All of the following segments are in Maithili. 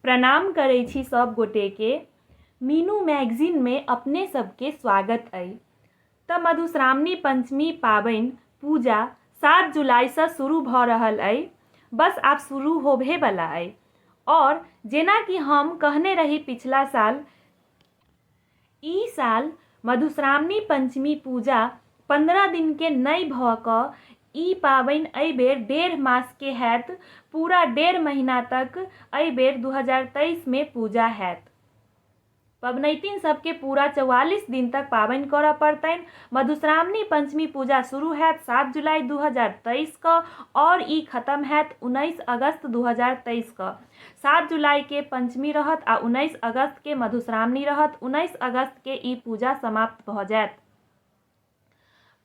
प्रणाम करै छी सब गोटे के मीनू मैगजीन मे अपने सब के स्वागत अइ त मधुश्रावणी पंचमी पाबनि पूजा सात जुलाई स शुरू भ रहल अइ बस आब शुरू होबहे बला अइ और जेना की हम कहने रही पिछला साल ई साल मधुश्रावणी पंचमी पूजा पन्द्रह दिन के नै भ क ई पाबैन अइ बेर डेढ़ मास के हैत। पूरा डेढ़ महिना तक अइ बेर दू हजार तेइस मे पूजा हैत। पबनैतिन सब के पूरा चौवालीस दिन तक पाबैन करऽ पड़तैन। मधुश्रावणी पंचमी पूजा शुरू हैत सात जुलाई दू हजार तेइस क और ई खतम हैत उनइस अगस्त दू हजार तेइस क। सात जुलाई के पंचमी रहत आ उन्नैस अगस्त के मधुश्रावणी रहत उन्नैस अगस्त के ई पूजा समाप्त भऽ जायत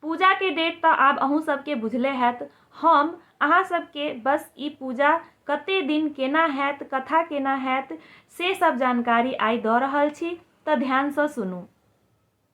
पूजा के डेट तऽ आब अहूँ सबके बुझले हैत हम अहाँ सबके बस ई पूजा कते दिन केना हैत कथा केना हैत से सब जानकारी आइ दऽ रहल छी तऽ ध्यानसँ सुनू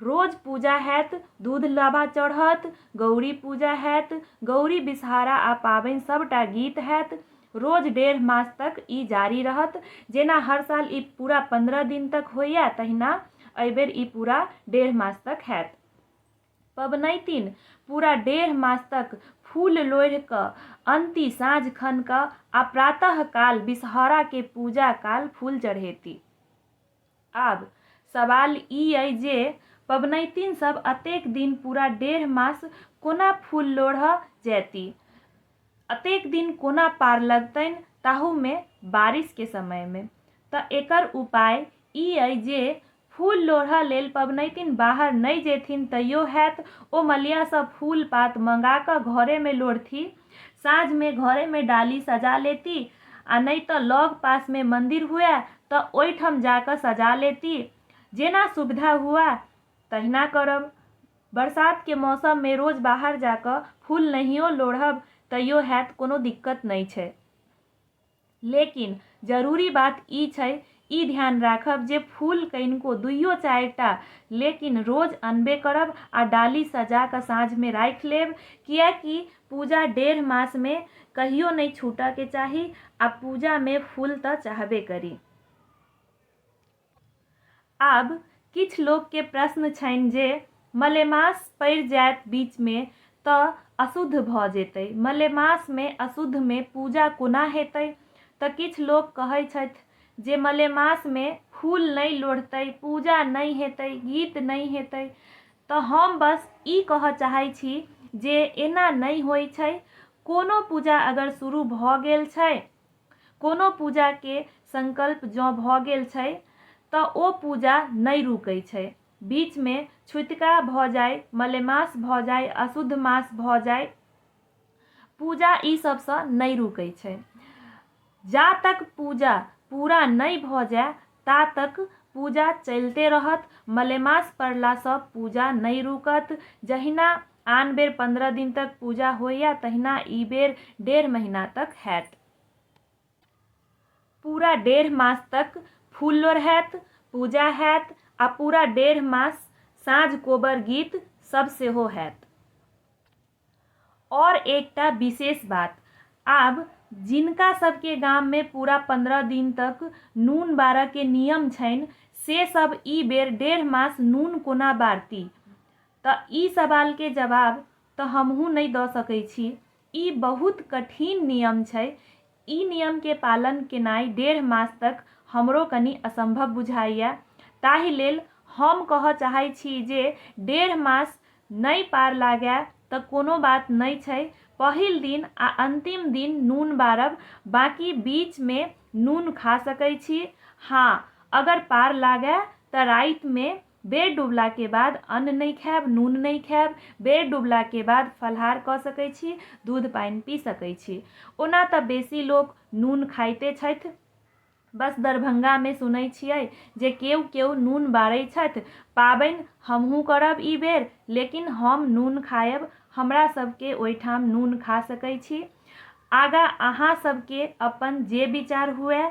रोज पूजा हएत, दूध लाबा चढ़त, गौरी पूजा हएत, गौरी बिसहारा आ पाबनि सभटा गीत हएत। रोज डेढ़ मास तक ई जारी रहत। जेना हर साल ई पूरा पन्द्रह दिन तक होइए तहिना एहि बेर ई पूरा डेढ़ मास तक हएत। पबनैतिन पूरा डेढ़ मास तक फूल लोढ़ि कऽ अन्ति साँझ खन कऽ आ प्रातः काल बिसहौराके पूजा काल फूल चढ़ेती। आब सवाल ई अइ जे पबनैतिन सभ अतेक दिन, पूरा डेढ़ मास, कोना फूल लोढ़ऽ जएति? अतेक दिन कोना पार लगतैन ताहू मे बारिस के समय मे? तऽ एकर उपाय ई अइ जे फूल लोढ़ऽ लेल पबनैतिन बाहर नै जेथिन तैयो हएत ओ मलिया सँ फूल-पात मंगा कऽ घरे मे लोढ़थि। साँझ मे घरे मे डाली सजा लेती आ नहि तँ लग पास मे मंदिर हुअए तँ ओहि ठाम जा कऽ सजा लेती। जेना सुविधा हुअए तहिना करब। बरसात के मौसम मे रोज बाहर जा कऽ फूल नहियो लोढ़ब तैयो हएत कोनो दिक्कत नहि छै। लेकिन, जरूरी बात ई छै ई ध्यान राखब जे फूल कनिको, दुइयो चारि टा, लेकिन रोज अनबे करब आ डाली सजा कऽ साँझ मे राखि लेब। किएक कि पूजा डेढ़ मास मे कहियो नहि छूटऽ के चाही आ पूजा मे फूल तऽ चाहबे करी। आब किछ लोक केँ प्रश्न छैन जे मलेमास पड़ि जाएत बीच मे त अशुद्ध भ जेतै। मलेमास मे अशुद्ध मे पूजा कोना हेतै? त किछ लोक कहै छथि जे मलेमास मे फूल नहि लोढ़तै, पूजा नहि हेतै, गीत नहि हेतै। त हम बस ई कहय चाहै छी जे एना नहि होइ छै। कोनो पूजा अगर शुरू भ गेल छै कोनो पूजा के संकल्प जँ भऽ गेल छै तऽ ओ पूजा नै रूकै छै। बीच मे छुतिका भऽ जाय, मलेमास भऽ जाय, अशुद्ध मास भऽ जाय, पूजा ई सब सँ नै रूकै छै। जा तक पूजा पूरा नै भऽ जाय, ता तक पूजा चलिते रहत। मलेमास पड़ला सँ पूजा नहि रुकत। जहिना आन बेर पन्द्रह दिन तक पूजा होइए तहिना ई बेर डेढ़ महीना तक हएत। पूरा डेढ़ मास तक फूल लोढ़ैत, पूजा हएत आ पूरा डेढ़ मास साँझ कोबर गीत सभ सेहो हएत। और एकटा विशेष बात, आब जिनका सब के गाम में पूरा पन्द्रह दिन तक नून बारऽ के नियम छैन, से सब ई बेर डेढ़ मास नून कोना बारति? त ई सवाल के जवाब त हमहूँ नै द सकै छी। ई बहुत कठिन नियम छै। ई नियम के पालन केनाइ डेढ़ मास तक हमरो कनी असंभव बुझाइए। ताहि लेल हम कहऽ चाहै छी जे डेढ़ मास नइ पार लागए तऽ कोनो बात नइ छइ। पहिल दिन आ अंतिम दिन नून बारब, बाकि बीच मे नून खा सकै छी। हाँ, अगर पार लागए तऽ राइत मे बेर डुबलाके बाद अन्न नहि खायब नून नहि खायब बेर डुबलाके बाद फलहार कऽ सकै छी दूध पानि पी सकै छी ओना तऽ बेसी लोक नून खाइते छथि बस दरभंगामे सुनै छियै जे केओ केओ नून बारै छथि पाबनि हमहूँ करब ई बेर लेकिन हम नून खायब हमरा सबके ओहिठाम नून खा सकै छी आगा अहाँ सबके अपन जे विचार हुए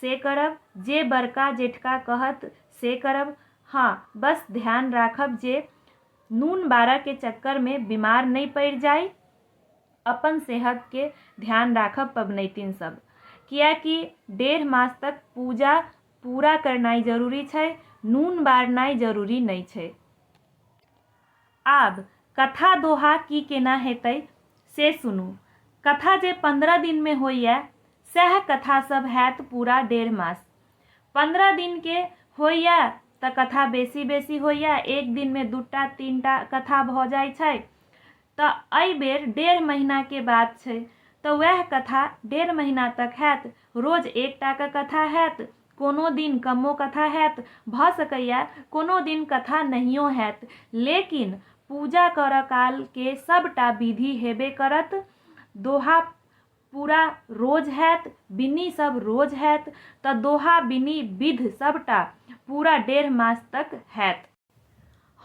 से करब। जे बड़का जेठका कहत से करब। हँ, बस ध्यान राखब जे नून बारह के चक्कर मे बीमार नइ पड़ि जाइ। अपन सेहत के ध्यान राखब पबनैतिन सब। किएकि डेढ़ मास तक पूजा पूरा करनाइ जरूरी छै, नून बारनाइ जरूरी नइ छै। आब कथा दोहा की केना हेतइ से सुनू। कथा जे पन्द्रह दिन मे होइए सएह कथा सभ हएत पूरा डेढ़ मास। पन्द्रह दिन के होइए त कथा बेसी-बेसी होइए। एक दिन मे दूटा, तीनटा कथा भ जाइ छै। त अइ बेर डेढ़ महीना के बात छै। त वएह कथा डेढ़ महीना तक हएत। रोज एकटा क कथा हएत। कोनो दिन कमो कथा हएत। भ सकैए कोनो दिन कथा नहियो हएत। लेकिन पूजा करऽ काल के सभटा विधि हेबे करत। दोहा पूरा रोज हैत बिन्नी सब रोज हैत त दोहा बिन्नी बिध सबटा पूरा डेढ़ मास तक हैत।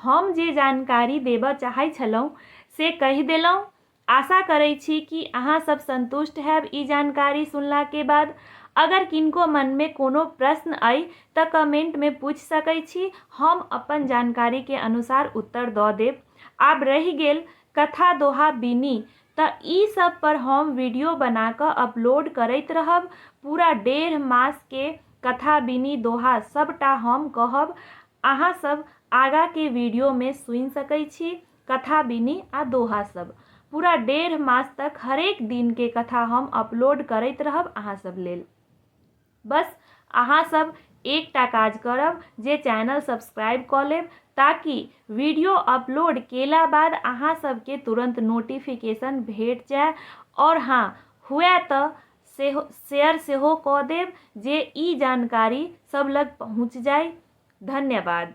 हम जे जानकारी देबऽ चाहै छलहुँ से कहि देलहुँ। आशा करै छी कि अहाँ सब संतुष्ट हैब ई जानकारी सुनला के बाद। अगर किनको मन में कोनो प्रश्न अइ त कमेंट में पूछि सकै छी, हम अपन जानकारी के अनुसार उत्तर दऽ देब। आब रहि गेल कथा-दोहा बिन्नी त ई सब पर हम वीडियो बना क अपलोड करैत रहब। पूरा डेढ़ मास के कथा बिनी दोहा सबटा हम कहब। अहां सब आगा के वीडियो मे सुनि सकय छी कथा बिनी आ दोहा सब। पूरा डेढ़ मास तक हरेक दिन के कथा हम अपलोड करैत रहब अहां सब लेल। बस अहाँ सब एकटा काज करब जे चैनल सब्सक्राइब कऽ लेब ताकि वीडियो अपलोड केला बाद अहाँ सबके तुरंत नोटिफिकेशन भेट जाए और हाँ हुए तऽ सेहो शेयर सेहो कऽ देब जे ई जानकारी सब लग पहुँच जाए धन्यवाद